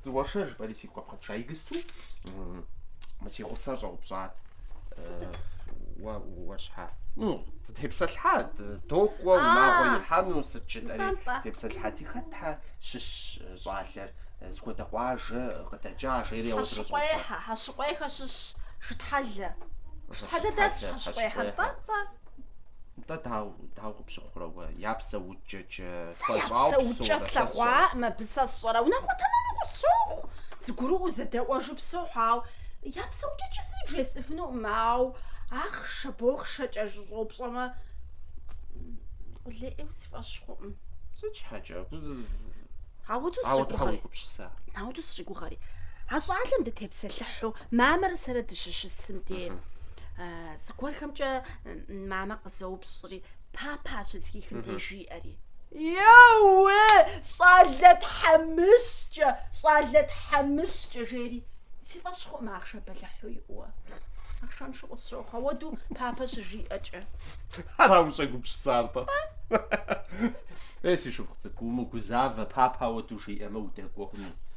Дзыгъуэшэ жыпӏэри сигу къэбгъэкӏыжа игысту, мы си гъусэр щӏэупщӏат. Уэ уэ щхьэ? Ну, тепсэлъхьат, докӏуэ, унагъуэ ихьэну сыт жытӏэри, тепсэлъхьати хэтхьэ щыщ щӏалэр зыхуэдэ къуажэ къыдэкӏа, жери ауэ тырыщӏэупщӏат. Хьэщыкъуехьэ, Хьэщыкъуехьэ щыщ Шытхьэлэ. Шытхьэлэ дэсщ Хьэщыкъуехьэм, нтӏэ-нтӏэ. Нтӏэ, дауэ къыпщыхъурэ уэ, я псэукӏ? Сэ я псэукӏэ слъэгъуакъым абы, сэ сщӏэрэ, унагъуэ тэмэму къысщохъу, зыгурыӏуэу зэдэӏуэжу псохьу, ауэ я псэукӏэкӏэ сэри бжесӏэфынукъым, ауэ ахъшэ-бохъшэкӏэ ущӏэупщӏэмэ, къулейуэ си фӏэщ хъукъым. Сыт щхьэкӏэ? Ауэду сщӏигугъэри. А щӏалэм дытепсэлъыхьу мамэрэ сэрэ дыщыщысым де, зыгуэрхэмкӏэ мамэ къызэупщӏри, Папа щызхихым де жиӏэри. Еуэ, щӏалэ тхьэмыщкӏэ, щӏалэ тхьэмыщкӏэ, жери, си фӏэщ хъуӏым ахъшэ бэлыхьу иӏэу. Ахъшэншу къысщохъу, ауэду папэ щыжиӏэкӏэ. Ара ущӏэгупсысар-тӏэ? Ей, си шыпхъу цӏыкӏу, умыгузавэ, папа ауэду жиӏэмэ, удэкӏуэ хъуну.